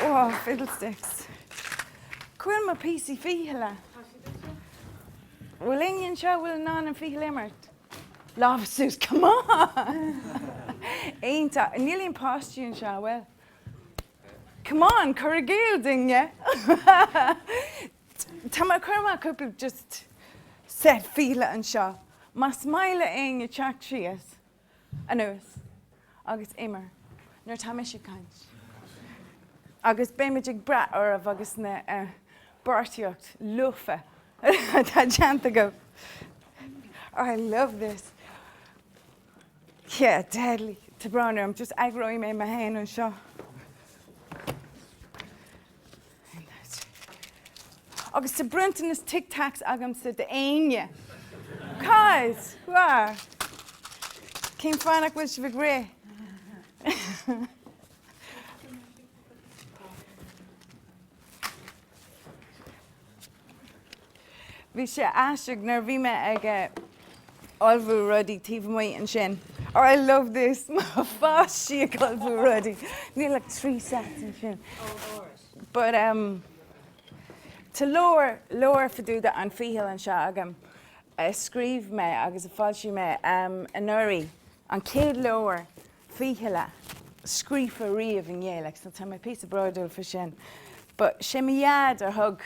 Oh fiddlesticks. Cá bhfuil mo píosaí fichille. Bhfuil éinne anseo a bhfuil in ann an ficheall imirt? Lámh suas, come on! Iontach. Níl aon páistí anseo, a bhfuil? Come on, cur i gcéill duine! Tá mé ag cur amach cúpla just set fichille anseo, más maith le éinne teacht síos anois agus imir nuair atá mise ag caint. Agus beimid ag brath oraibh agus na eh, beartaíocht lofa atá déanta agaibh. I love this. Yeah, deadly. Tá brón orm. Just eagróidh mé mé féin anseo. Agus tá bronntanas Tic Tacs agamsa d'éinne. Cad? Bhfearr. Cén fáth nach bhfuil sibh ag rith? Bhí sé aisteach nuair a bhí mé ag eh, ullmhú rudaí taobh amuigh ansin. Oh, I love this! Má bhí mé ag ullmhú rudaí. Níl ach trí sets ansin. But um, tá leabhar, leabhar fá dtaobh de an ficheall anseo agam a scríobh mé agus a d'fhoilsigh mé um, anuraidh. An chéad leabhar fichille scríofa riamh i nGaeilge, so tá mé píosa bródúil faoi sin. Ba sé mo dhaid a thug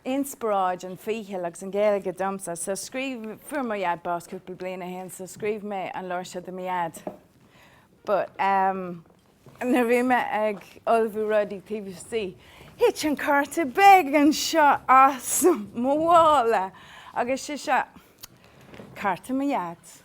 inspioráid an ficheall agus an Ghaeilge domsa, so scríobh, fuair mo dhaid bás cúpla bliain ó shin, so scríobh mé an leabhar seo do mo dhaid. But um nuair a bhí mé ag ullmhú rudaí taobh istigh, thit an cárta beag anseo as mo mhála agus is é seo cárta mo dhaid.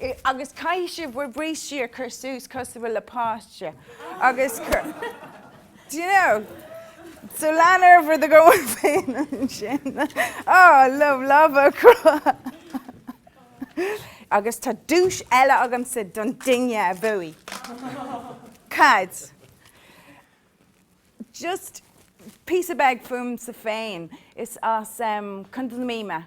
i. agus caithfidh sibh bhur brístí a chur suas cosúil le páiste agus cur do you know so lean ar bhur n-aghaidh féin ansin Oh I love lámha a chroitheadh agus tá duais eile agamsa don duine a bhuaigh. Okay just píosa beag fúmsa féin is as Contae na Mí mé.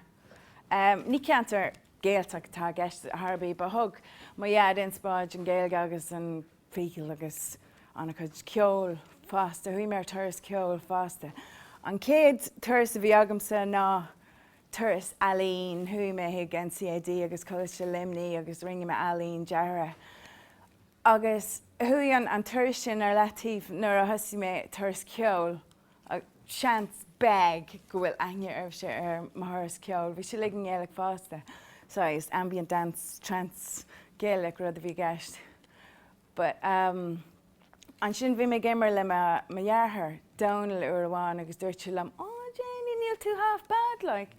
Ní ceantar Gaeltacht atá i gceist ar chor ar bith, but thug mo Dhaid inspioráid don Ghaeilge agus an ficheall agus an-chuid ceoil fosta. Chuaigh mé ar turas ceoil fosta. An chéad turas a bhí agamsa ná turas ealaíne. Chuaigh mé chuig NCAD agus Coláiste Luimnigh agus rinne mé ealaín deartha. Agus chuaigh an turas sin ar leataobh nuair a thosaigh mé turas ceoil. Seans, beag, go bhfuil aithne oraibhse ar mo thuras ceoil. Bhí sé uilig i nGaeilge fosta. Saghas ambient dance, trance Gaeilge rud a bhí i gceist. But um ansin bhí mé ag imirt le mo dheartháir, Dónal, uair amháin agus dúirt sé liom, Ó, Janey, níl tú half bad, like.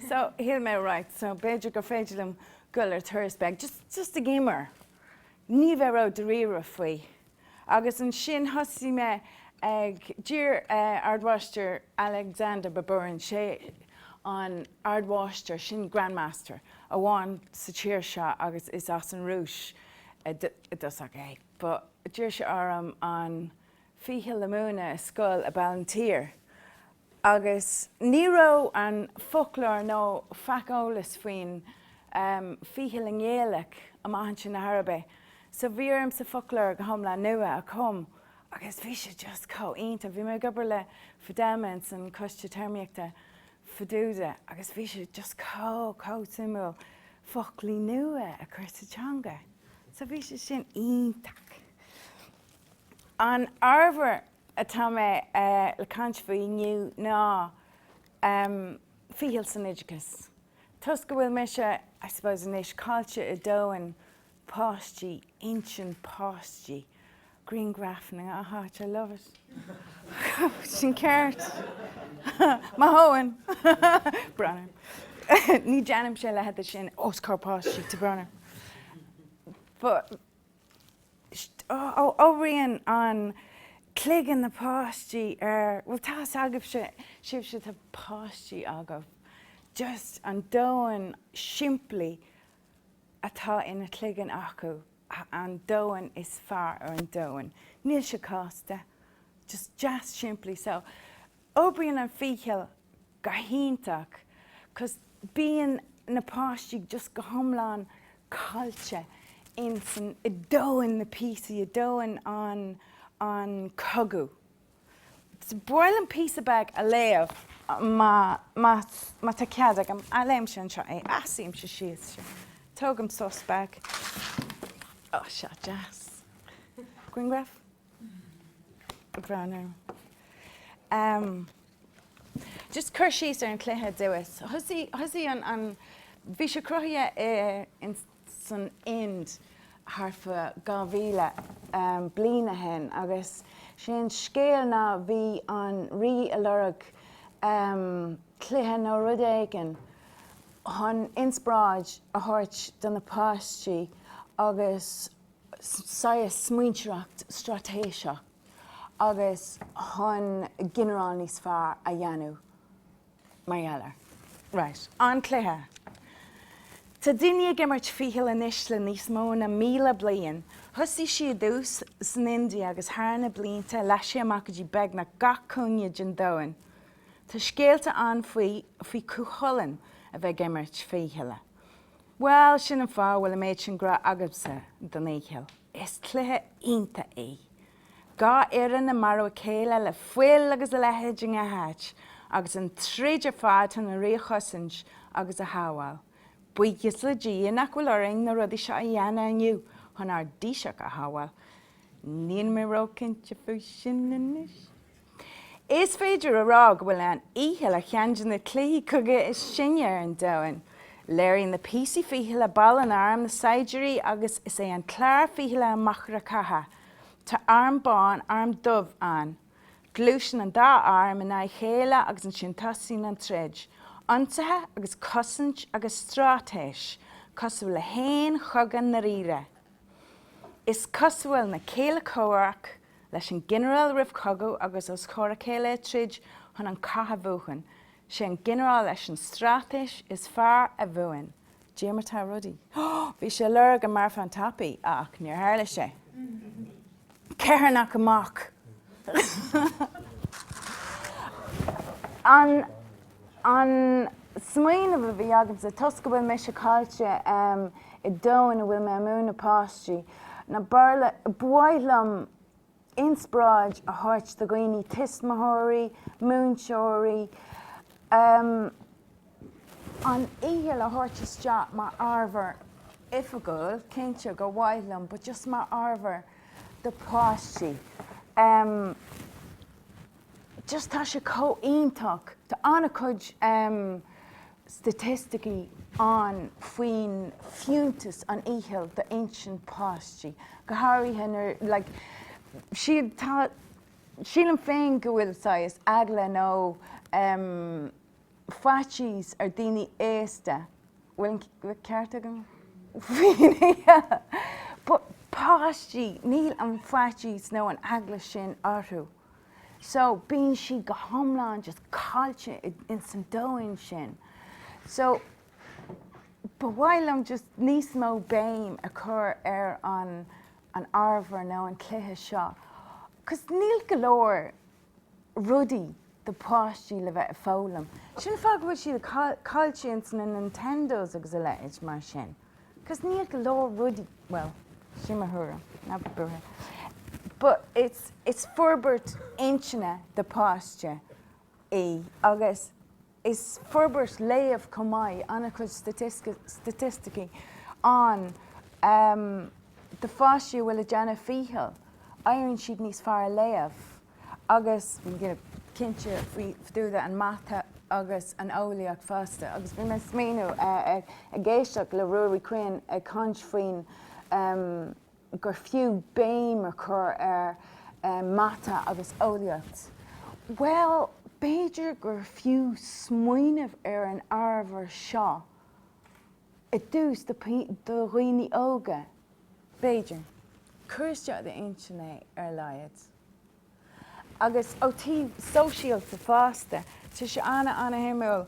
So shíl mé, right, so b'fhéidir gur féidir liom dul ar turas beag, just, just ag imirt. ní bheith ródáiríre faoi. Agus ansin thosaigh mé ag, d'iarr Ardmháistir Alexander Baburin, sé an Ardmháistir sin Grandmaster amháin sa tír seo agus is as an Rúis i dtosach é. But d'iarr sé orm an ficheall a múineadh i scoil i Ballinteer agus ní raibh an foclóir nó faic eolas faoin bhficheall i nGaeilge amach ansin ar chor ar bith so bhí ormsa foclóir go hiomlán nua a chum agus bhí sé just chomh iontach, bhí mé ag obair le Fidelma insan Coiste Téarmaíochta fá dtaobh de agus bhí sé just chomh chomh suimiúil foclaí nua a chur sa teanga so bhí sé sin iontach. An ábhar atá mé le caint faoi inniu ná ficheall san oideachas. Toisc go bhfuil mise, I suppose, anois caillte i domhan páistí, intinn páistí, grianghraif na ngnáth háit, I love it! Sin ceart! Mo thóin! Brón orm. Ní déanaimse leithéid de sin os comhair páistí, tá brón orm. But. Oibríonn an cloigeann na páistí ar, bhuel, tá's agaibhse, sibhse atá páistí agaibh, just an domhan simplí atá ina chloigeann acu, an domhan is fearr ar an domhan. Níl sé cásta, just deas simplí. So, Oibríonn an ficheall go hiontach cos bíonn na páistí just go hiomlán caillte insan i domhan na píosaí, i domhan an an cogadh. So ba mhaith liom píosa beag a léamh má má má tá cead agam, ah léimse anseo é. Ah suímse síos seo. Tógaim sos beag. Ó seo deas. Grianghraf? breathnú. Em, just cur síos ar an chluiche diamhas. Thosaigh, thosaigh an, an, bhí sé cruthaithe i, in, san Ind tharfa 2000 em, bliain ó shin agus sé an scéal ná bhí an rí ag lorg em, cluiche nó rud éigin chun inspráid a thabhairt do na páistí agus saghas smaointeoireacht straitéiseach agus chun ginearáil níos fearr a dhéanamh mar gheall air. Right. An cluiche. Tá daoine ag imirt ficheall anois le níos mó na míle bliain. Thosaigh sé i dtús san India agus thar na blianta leath sé amach go dtí beagnach gach cúinne den domhan. Tá scéalta ann faoi faoi Cú Chulainn a bheith ag imirt fichille. Bhuel, sin an fáth a bhfuil an méid sin grá agamsa don fhicheall. Is cluiche iontach é. Dhá fhoireann ag marú a chéile le fuil agus a leithéid i ngach áit agus an troid ar fad chun an Rí a chosaint agus a shábháil. Buíochas le Dia nach bhfuil orainn na rudaí seo a dhéanamh inniu chun ár dTaoiseach a shábháil. Nílim róchinnte faoi sin anois. Is féidir a rá go bhfuil an fhicheall ar cheann de na cluichí cogaidh is sine ar an domhan. Léiríonn na píosaí fichille baill an arm na saighdiúirí agus is é an clár fichille an machaire catha. Tá arm bán, arm dubh ann. Gluaiseann an dá arm in aghaidh a chéile agus ansin tosaíonn an troid. Ionsaithe agus cosaint agus straitéis, cosúil le haon chogadh dáiríre. Is cosúil na céilí comhraic leis an ginearál roimh chogadh agus os comhair a chéile ag troid chun an cath a bhuachan, sé an ginearál leis an straitéis is fearr a bhuann de ghnáth rudaí. Bhí sé ag lorg an marbhán tapaidh ach níor tharla sé. Ceithearnach amach! An smaoineamh a bhí agamsa, toisc go bhfuil mise caillte i ndomhan ina bhfuil mé ag múineadh páistí, ná b'fhearr, ba mhaith liom inspioráid a thabhairt do dhaoine, tuismitheoirí, múinteoirí, em, an fhicheall a thabhairt isteach mar ábhar oifigiúil, cinnte gur mhaith liom, but just mar ábhar do pháistí. Em. Just tá sé comh iontach. Tá an-chuid staitisticí ann faoin fiúntas an fhicheall d'intinn páistí, go háirithe, like, sílim féin go bhfuil saghas eagla nó faitíos ar daoine aosta, bhfuil an ceart agam? But páistí, níl an faitíos nó an eagla sin orthu. so bíonn siad go hiomlán just caillte ins an domhain sin. So ba mhaith liom just níos mó béim a chur ar an an ábhar nó an cluiche seo cos níl go leor rudaí do páistí le bheith ag foghlaim. Sin fáth go bhfuil siad caillte ins na Nintendos agus a leithéid mar sin. 'Cause níl go leor rudaí, bhuel, sin mo thuairim, ná bí buartha, but it's, it's forbairt intinne do pháiste í agus is forbairt léamh chomh maith, an-chuid staitisticí ann do pháistí a bhfuil ag déanamh ficheall, éiríonn siad níos fearr ag léamh. agus cinnte fá dtaobh den mata agus an eolaíocht fosta agus bhí mé ag smaoineamh ag éisteacht le Ruairí Quinn ag caint faoin gur fiú béim a chur ar mata agus eolaíocht. Bhuel, b'fhéidir gur fiú smaoineamh ar an ábhar seo i dtús do dhaoine óga, b'fhéidir. Cur isteach i d'intinn é ar a laghad. agus ó taobh sóisialta fosta, tá sé ana, ana-shuimiúil.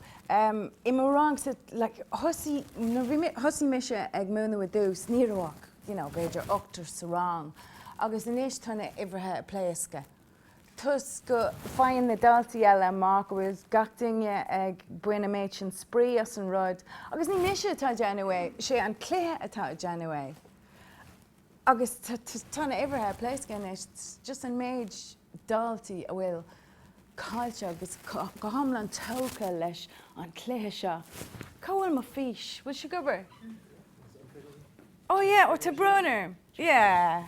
I mo rangsa, thosaigh mise ag múineadh i dtús, ní raibh ach b'fhéidir ochtar sa rang, agus anois tá na huimhreacha ag pléascadh, toisc go faigheann na daltaí eile amach go bhfuil gach duine ag baint an méid sin spraoi as an rud, agus ní mise atá ag déanamh é, sé an cluiche atá ag déanamh é. Agus tá na uimhreacha ag pléascadh anois, just an méid daltaí a bhfuil caillte agus go hiomlán tógtha leis an chluiche seo. Cá bhfuil mo fís? Bhfuil sí ag obair? Oh yeah, oh tá brón orm. Yeah.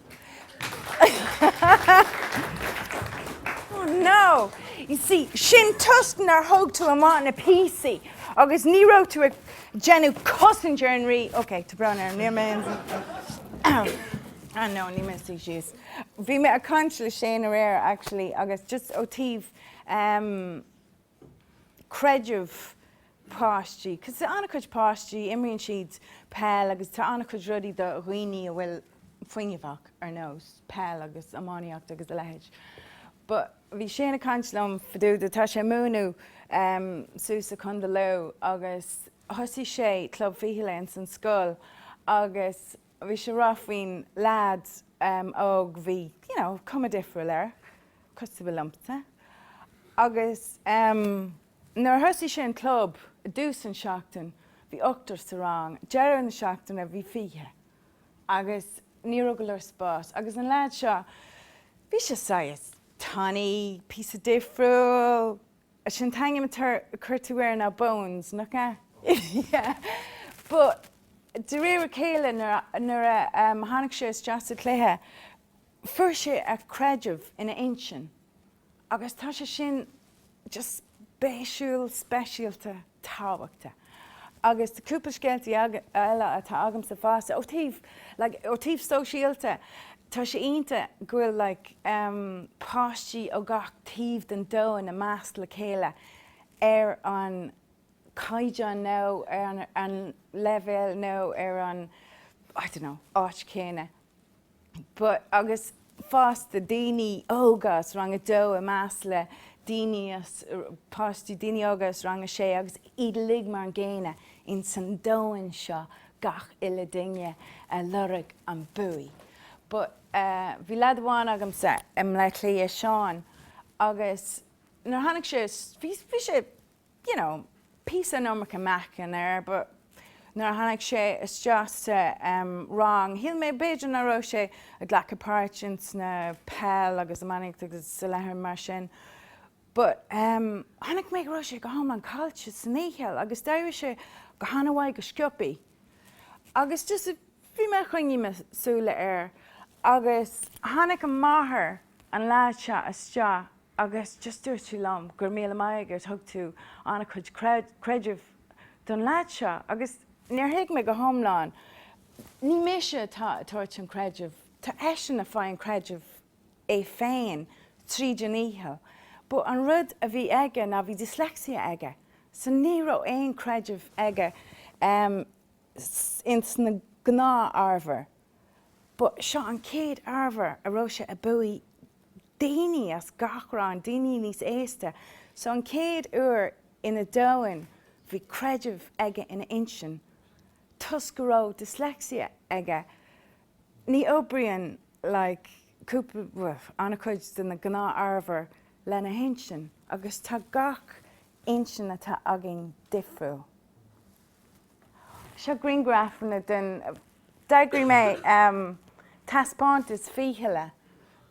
Oh no! You see, sin toisc nár thug tú amach na píosaí agus ní raibh tú ag déanamh cosaint ar an rí. Ok, tá brón orm, níl mé in. Ah no, ní mé suí síos. Bhí mé ag caint le Shane aréir actually agus just ó taobh creideamh páistí, cos tá an-chuid páistí, imríonn siad peil agus tá an-chuid rudaí do dhaoine a bhfuil fuinneamh acu ar nós peil agus iománaíocht agus a leithéid. But bhí Shane ag caint liom fadúda, tá sé ag múineadh em suas i Contae Lú agus thosaigh sé Club Fichille ins an scoil agus, bhí sé a rá faoin leaid óg bhí you know cuma difriúil air cosúil liomsa agus nuair a thosaigh sé an club i dtús an seachtain bhí ochtar sa rang deireadh na seachtaine bhí fiche agus ní raibh go leor spás agus an leaid seo bhí sé saghas tanaí píosa difriúil Sin an t-ainm a chuir tú air ná Bones, nach ea? Yeah, but de réir a chéile, nuair a tháinig sé isteach sa chluiche, fuair sé a chreideamh ina intinn agus tá sé sin just spéisiúil, speisialta. tábhachtach. Agus tá cúpla scéaltaí eile atá agamsa fosta. Ó thaobh, like, ó thaobh sóisialta, tá sé iontach go bhfuil, like, em, páistí ó gach taobh den domhan i measc le chéile ar an chaighdeán nó ar an leibhéal nó ar an, I don't know, áit chéanna. but agus fosta daoine óga as rang a dó i measc le daoine, páistí daoine óga as rang a sé agus iad uilig mar an gcéanna in san domhan seo gach uile duine ag lorg an buaidh but bhí leaid amháin agamsa i mBleá Cliath Seán agus nuair tháinig sé bhí sé you know, píosa an iomarca meáchain air but nuair a tháinig sé isteach sa, em, rang, shíl mé b'fhéidir nach raibh sé ag glacadh páirt ins na peil agus iománaíocht agus a leithéid mar sin but, em, chonaic mé go raibh sé go hiomlán caillte san fhicheall agus d'éirigh sé go han-mhaith go sciobtha agus just bhí mé ag coinneáil mo shúile air agus tháinig a mháthair, an leaid seo, isteach agus just dúirt sí liom, Go raibh míle maith agat, thug tú an-chuid creidimh don leaid seo. Agus níor thuig mé go hiomlán, ní mise atá ag tabhairt an chreidimh, tá eisean ag fáil an chreidimh é féin tríd an fhicheall. But an rud a bhí aige ná bhí dyslexia aige, so ní raibh aon chreideamh aige ins na gnáth-ábhair. but seo an chéad ábhar a raibh sé ag buachaint daoine as gach rang, daoine níos aosta so an chéad uair ina domhan bhí creideamh aige ina intinn toisc go raibh dyslexia aige ní oibríonn like cúpla an-chuid de na gnáth ábhar lena hintinn agus tá gach intinn atá againn difriúil. Seo grianghrafanna den, d'eagraigh mé taispeántas fichille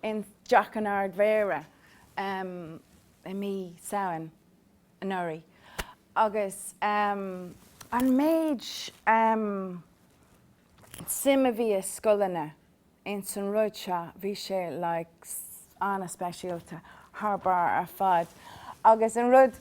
i dTeach an Ard-Mhéara i mí Samhain anuraidh agus an méid suim a bhí ag scoileanna ins an rud seo bhí sé like ana-speisialta thar barr ar fad agus an rud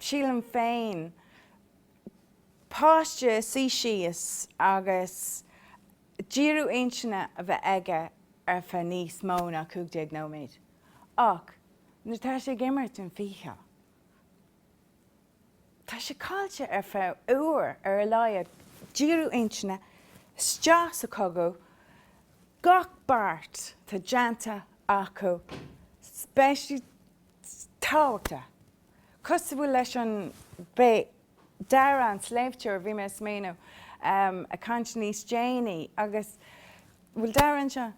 sílim féin, páiste suí síos agus díriú intinne a bheith aige ar feadh níos mó ná cúig déag nóiméad. Ach nuair atá sé ag imirt an ficheall, tá sé caillte ar feadh uair ar a laghad, díriú intinne isteach sa chogadh, gach beart atá déanta acu, spéisiúil, tábhachtach. cosúil leis an beidh Dara an sléibhteoir bhí mé ag smaoineamh ag caint níos déanaí agus bhfuil Dara anseo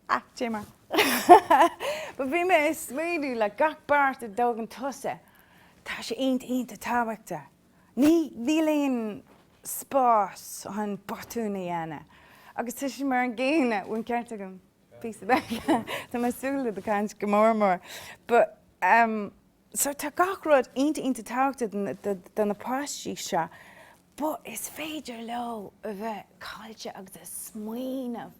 ah Dé mar but bhí mé ag smaoineamh le gach beart a dtógann tusa tá sé int iontach tábhachta ní níl aon spás chun botúin a dhéanamh agus tá sé mar an gcéanna bhfuil an ceart agam píosa beag. Tá mé ag súil le do chaint go mór mór. But um so tá gach rud ionta ionta tábhachta do na páistí seo but is féidir leo a bheith caillte agus ag smaoineamh.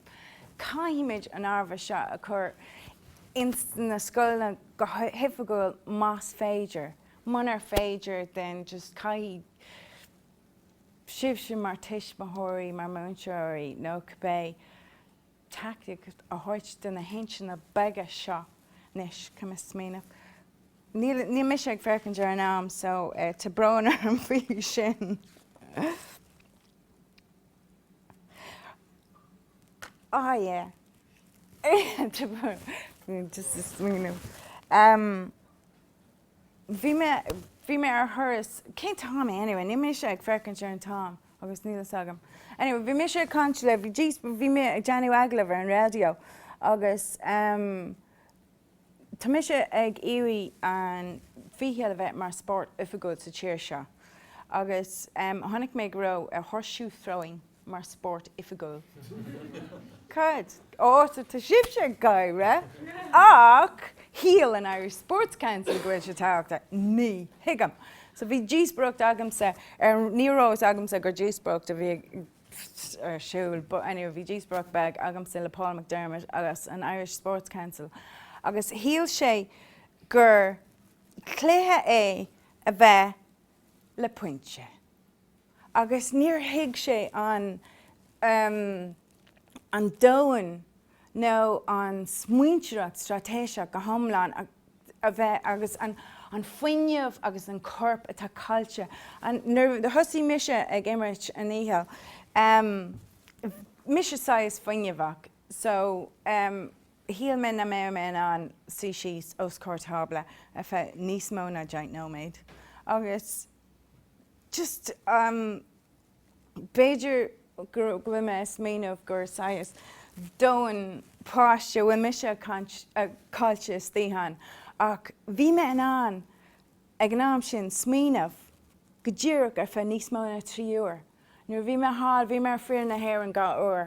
Caithfimid an ábhar seo a chur ins na scoileanna go hoifigiúil más féidir. Munar féidir then just caithfidh sibhse mar tuismitheoirí, mar múinteoirí nó cibé teaictic a thabhairt do na hintinne beaga seo. Anois, caithfidh mé smaoineamh. Níl, níl mise ag féachaint ar an am so tá brón orm faoi sin. Ah, yeah. Tá brón. Just ag smaoineamh. Bhí mé, bhí mé ar thuras, cén t-am é anyway, níl mise ag féachaint ar an t-am agus níl fhios agam. Anyway, bhí mise ag caint le, bhí jeez, bhí mé ag déanamh agallamh ar an raidió agus ehm tá mise ag iarraidh an ficheall a bheith mar spórt oifigiúil sa tír seo agus ehm chonaic mé go raibh horseshoe throwing, mar spórt oifigiúil. Cad as atá sibhse ag gáire? Ach shíl an Irish Sports Council go bhfuil sé tábhachtach. Ní thuigim. So bhí díospóireacht agamsa ar, ní raibh fhios agamsa gur díospóireacht a bhí ar siúl but anyway bhí díospóireacht beag agamsa le Paul McDermott agus an Irish Sports Council agus shíl sé gur cluiche é a bheith le pointe agus níor thuig sé an an domhan nó an smaointeoireacht straitéiseach go hiomlán a bheith agus an an fuinneamh agus an corp atá caillte. Nuair a thosaigh mise ag imirt an fhicheall mise saghas fuinneamhach so shíl mé nach mbeadh mé in ann suí síos os comhair tábla ar feadh níos mó ná deich nóiméad agus just um b'fhéidir go bhfuil mé a smaoineamh gur saghas domhan páiste bhfuil mise caillte istigh ann ach bhí mé in ann ag an am sin smaoineamh go díreach ar feadh níos mó ná trí uair nuair a bhí mé thall bhí mé ar fhoireann na hÉireann dhá uair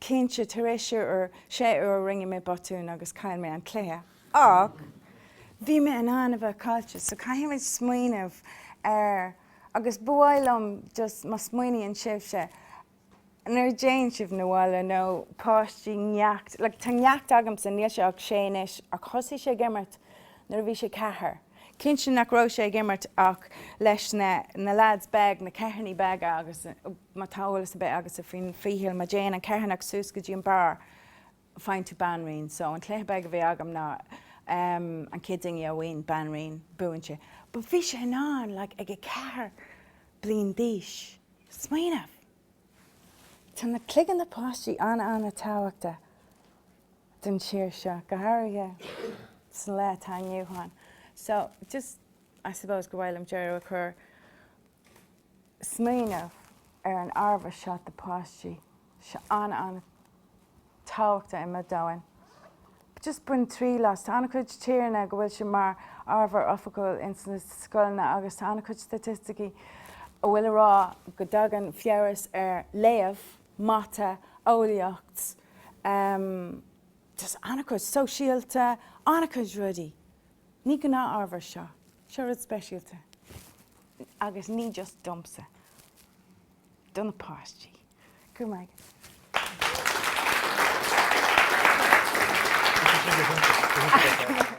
Cinnte, tar éis sé uair, rinne mé botún agus chaill mé an cluiche, ach bhí mé in ann a bheith caillte, so caithfidh muid smaoineamh ar, agus ba mhaith liom just má smaoiníonn sibhse, nuair a dtéann sibh na bhaile nó páistí neacht, like tá neacht agamsa, níl sé ach sé anois ach thosaigh sé ag imirt nuair a bhí sé ceathair, cinnte nach raibh sé ag imirt ach leis na, na lads beag, na ceithearnaí beaga agus. má tá eolas ar bith agatsa faoin ficheall, má dtéann an ceithearnach suas go dtí an barr, faigheann tú banríon. So, an cluiche beag a bhí agam ná an chéad duine a bhain banríon, buann sé. But bhí sé in ann, like, ag a ceathair bliain d'aois, smaoineamh. Tá na cloigeann na páistí an-an-tábhachta don tír seo, go háirithe sa lá atá inniu ann. So, just. I suppose go bhfuil orm deireadh a chur. Smaoineamh ar an ábhar seo do páistí. Seo an-an-tábhachta i mo domhan. Just bain triail as. Tá an-chuid tíreanna go bhfuil sé mar ábhar oifigiúil ins na scoileanna agus tá an-chuid staitisticí a bhfuil a rá go dtagann feabhas ar léamh, mata, eolaíocht, just an-chuid, sóisialta, an-chuid rudaí. Ní gnáth-ábhar seo. Seo rud speisialta. Agus ní just domsa. Do na páistí. Go raibh maith agat. Thank you.